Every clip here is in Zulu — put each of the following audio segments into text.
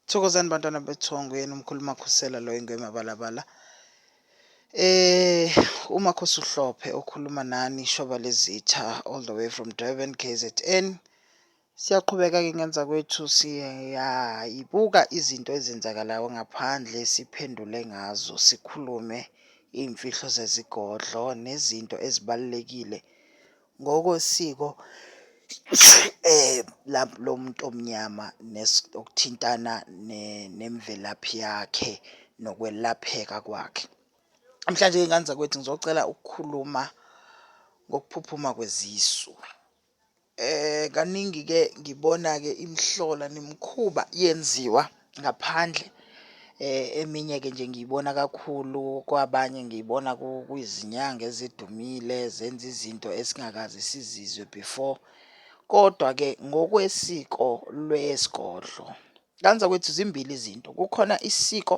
Thokozani bantwana bethongo yena umkhulu makhosela lo ingwe mabalabala eh uma khosuhlophe okhuluma nani shoba lezitha all the way from Durban KZN siyaqhubeka ke ngenza kwethu siyayibuka izinto ezenzakalayo ngaphandle siphendule ngazo sikhulume imfihlo zezigodlo nezinto ezibalekile Ngokosiko lomuntu omnyama okuthintana nemvelaphi yakhe nokwelapheka kwakhe. Namhlanje ngey'ngane zakwethu ngizocela ukukhuluma ngokuphuphuma kwezisu. Kaningi-ke ngibona-ke imihlola nemikhuba yenziwa. ngaphandle. Eminye-ke nje ngiyibona kakhulu kwabanye ngiyibona kwizinyanga ezidumile zenza izinto esingakaze sizizwe before. Kodwa-ke ngokwesiko lwesigodlo, kanzakwethu zimbili izinto, kukhona isiko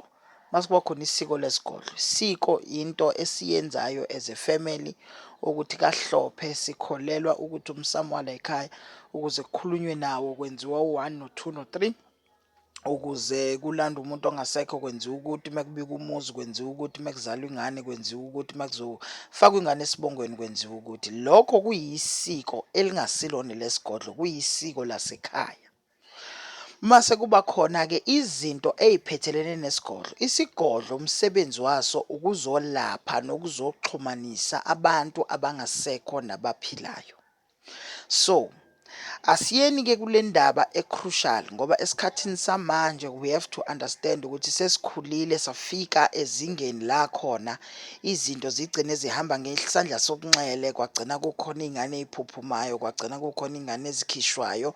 mase kuba khona isiko lesigodlo. Isiko into esiyenzayo as a family ukuthi kaHlophe sikholelwa ukuthi umsamo walayikhaya ukuze kukhulunywe nawo kwenziwa u-one no-two no-three. ukuze kulanda umuntu ongasekho kwenziwa ukuthi uma kubika umuzi kwenziwa ukuthi uma kuzalwa ingane kwenziwa ukuthi uma kuzofakwa ingane esibongweni kwenziwa ukuthi lokho kuyisiko elingasilona lesigodlo kuyisiko lasekhaya mase kuba khona ke izinto eziphethelene nesigodlo isigodlo umsebenzi waso ukuzolapha nokuzoxhumanisa abantu abangasekho nabaphilayo So asiyeni ke kule ndaba ecrucial ngoba esikhathini samanje we have to understand ukuthi sesikhulile safika ezingeni la khona izinto zigcine zihamba ngesandla sokunxele kwagcina kukhona izingane eziphuphumayo kwagcina kukhona izingane ezikhishwayo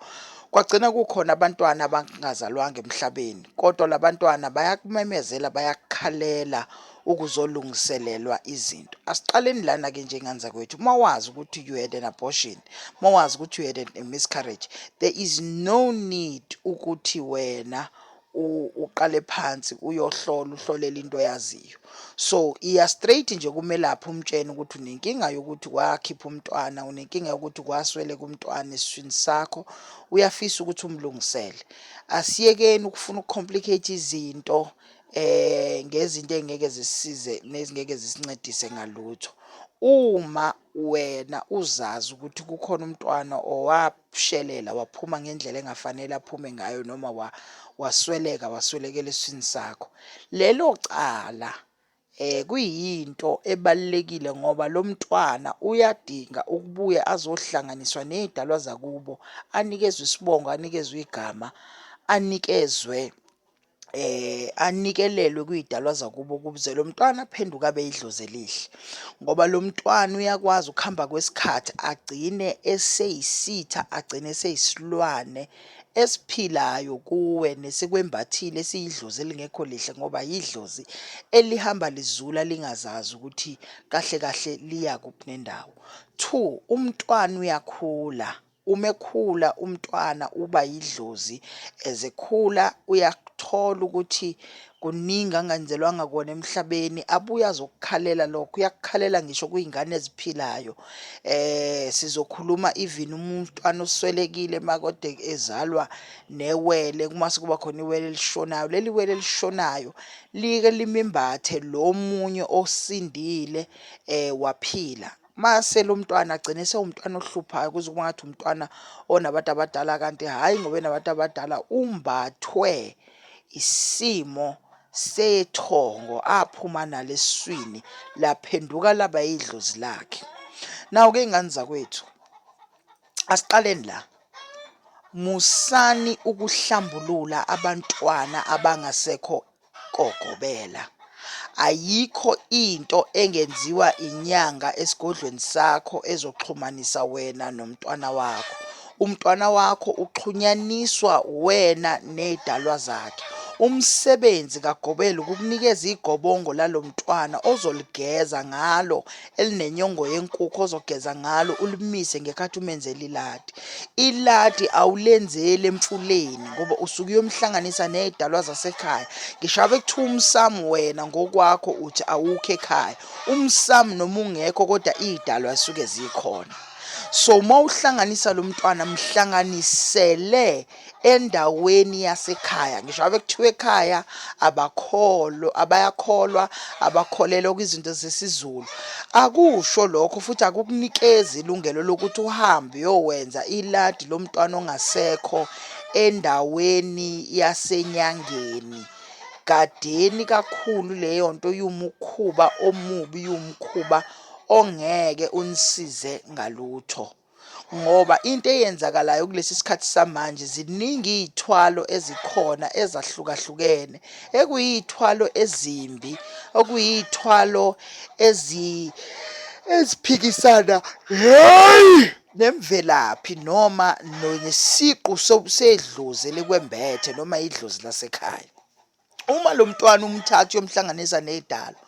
kwagcina kukhona abantwana abangazalwanga emhlabeni kodwa labantwana bayakumemezela bayakukhalela ukuzolungiselelwa izinto asiqaleni lana ke njengani zakwethu uma wazi ukuthi you had an abortion uma wazi ukuthi you had a miscarriage there is no need ukuthi wena uqale phansi uyohlola uhlolele into oyaziyo so iya straight nje kumelaphi umtshene ukuthi unenkinga yokuthi wakhipha umntwana unenkinga yokuthi kwaswele kumntwana esiswini sakho uyafisa ukuthi umlungisele asiyekeni ukufuna ukucomplicate izinto um ngezinto ey'ngeke zisisize nezingeke zisincedise ngalutho. Uma wena uzazi ukuthi kukhona umntwana owashelela waphuma ngendlela engafanele aphume ngayo noma wa wasweleka waswelekela eswini sakho. Lelo cala eh kuyinto ebalekile ngoba lo mntwana uyadinga ukubuya azohlanganiswa nezidalwa zakubo, anikezwe isibongo, anikezwe igama, anikezwe eh anikelelwe kuyidalwa zakubo ukuze lo mntwana aphenduke abe idlozi elihle ngoba lo mntwana uyakwazi ukuhamba kwesikhathi agcine eseyisitha agcine eseyisilwane esiphilayo kuwe nesikwembathile esiyidlozi elingekho lihle ngoba yidlozi elihamba lizula lingazazi ukuthi kahle kahle liya kuphi nendawo two umntwana uyakhula Uma ekhula umntwana uba yidlozi as ekhula uyakuthola ukuthi kuningi angenzelwanga kona emhlabeni abuye azokukhalela lokho uyakukhalela ngisho kuyingane eziphilayo eh sizokhuluma even umntwana oswelekile makode ezalwa newele kuma sekuba khona iwele elishonayo leli wele elishonayo like limimbathe lo munye osindile eh waphila mase lo mntwana agcine sewumntwana ohluphayo kuze kuba ngathi umntwana onabantu abadala kanti hhayi ngoba enabantu abadala umbathwe isimo sethongo aphuma nalo eswini laphenduka laba yidlozi lakhe nawo-ke iy'ngane zakwethu asiqaleni la musani ukuhlambulula abantwana abangasekho kogobela. Ayikho into engenziwa inyanga esigodlweni sakho ezoxhumanisa wena nomntwana wakho. Umntwana wakho uxhunyaniswa wena nezidalwa zakhe. Umsebenzi kagobela ukukunikeza igobongo lalomntwana ozoligeza ngalo elinenyongo yenkukhu ozogeza ngalo ulimise ngekhathi umenzela iladi. Iladi awulenzeli emfuleni ngoba usuke uyomhlanganisa nezidalwa zasekhaya. Ngisho abe kuthiwa umsamu wena ngokwakho uthi awukho ekhaya. Umsamu noma ungekho kodwa izidalwa zisuke zikhona. So uma uhlanganisa lo mntwana mhlanganisele endaweni yasekhaya ngisho ave kuthiwa ekhaya abakholwa abayakholwa abakholelwa kwizinto zesizulu akusho lokho futhi akukunikezi ilungelo lokuthi uhambe uyowenza iladi lomntwana ongasekho endaweni yasenyangeni gadeni kakhulu leyo nto yumukhuba omubi yumkhuba ongeke unisize ngalutho ngoba into eyenzakalayo kulesi sikhathi samanje ziningi iy'thwalo ezikhona ezahlukahlukene ekuyiy'thwalo ezimbi okuyiy'thwalo ezi eziphikisana heyi nemvelaphi noma nesiqu sedlozi elikwembethe noma idlozi lasekhaya. uma lo mntwana umthatha uyomhlanganisa nedalo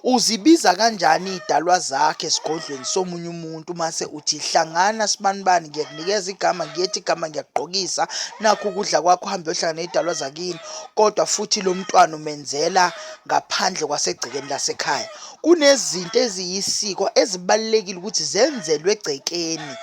uzibiza kanjani idalwa zakhe esigodlweni somunye umuntu mase uthi hlangana sibanibani ngiyakunikeza igama ngiyethi igama ngiyakugqokisa nakho ukudla kwakho uhambe uyohlangana idalwa zakini kodwa futhi lo mntwana umenzela ngaphandle kwasegcekeni lasekhaya kunezinto eziyisiko ezibalulekile ukuthi zenzelwe egcekeni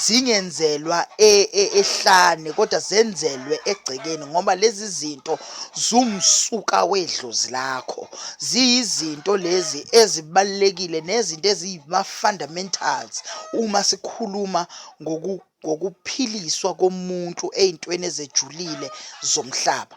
zingenzelwa e, e, ehlane kodwa zenzelwe egcekeni ngoba lezi zinto zumsuka wedlozi lakho ziyizinto lezi ezibalulekile nezinto eziyima-fundamentals uma sikhuluma ngokuphiliswa komuntu ey'ntweni ezejulile zomhlaba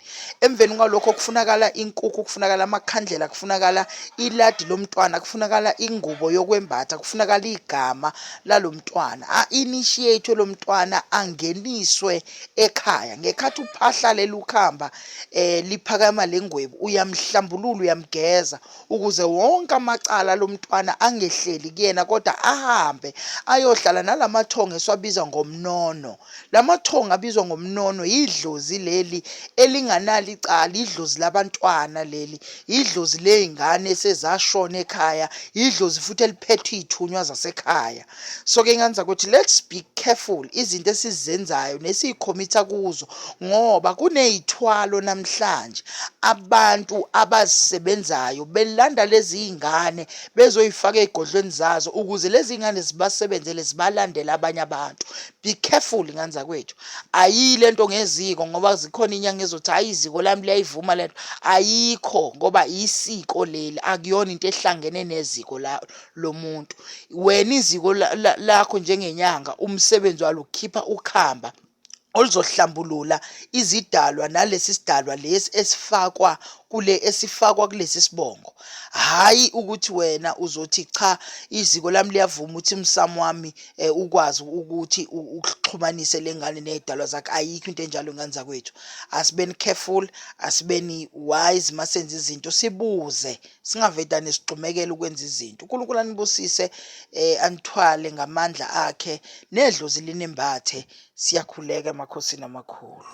emveni kwalokho kufunakala inkukhu kufunakala amakhandlela kufunakala iladi lomntwana kufunakala ingubo yokwembatha kufunakala igama lalomntwana a-initiate lomntwana angeniswe ekhaya ngekhathi uphahla lelukhamba eh liphakama lengwebu uyamhlambulula uyamgeza ukuze wonke amacala lomntwana angehleli kuyena kodwa ahambe ayohlala nalamathongo esiwabiza ngomnono Lamathongo abizwa ngomnono yidlozi leli elinganalo icala, yidlozi labantwana leli, yidlozi lezingane esezashona ekhaya, yidlozi futhi eliphethe izithunywa zasekhaya. So ke ngani zakuthi let's be careful izinto esizenzayo nesiyikhomitha kuzo ngoba kunezithwalo namhlanje abantu abazisebenzayo belanda lezi zingane bezoyifaka ezigodlweni zazo ukuze lezi zingane zibasebenzele zibalandele abanye abantu be careful ngane zakwethu ayiyi le nto ngeziko ngoba zikhona inyanga ezothi hhayi iziko lami liyayivuma le nto ayikho ngoba isiko leli akuyona into ehlangene neziko lomuntu wena iziko lakho njengenyanga umsebenzi walo ukhipha ukhamba oluzohlambulula izidalwa nalesi sidalwa lesi esifakwa kule esifakwa kulesi sibongo hhayi ukuthi wena uzothi cha iziko lami liyavuma ukuthi umsamo wami um ukwazi ukuthi uxhumanise le ngane ney'dalwa zakhe ayikho into enjalo ngane zakwethu asibeni careful asibeni wise uma senza izinto sibuze singavedane sigxumekele ukwenza izinto unkulunkulu anibusise um anithwale ngamandla akhe nedlozi linembathe siyakhuleka emakhosini amakhulu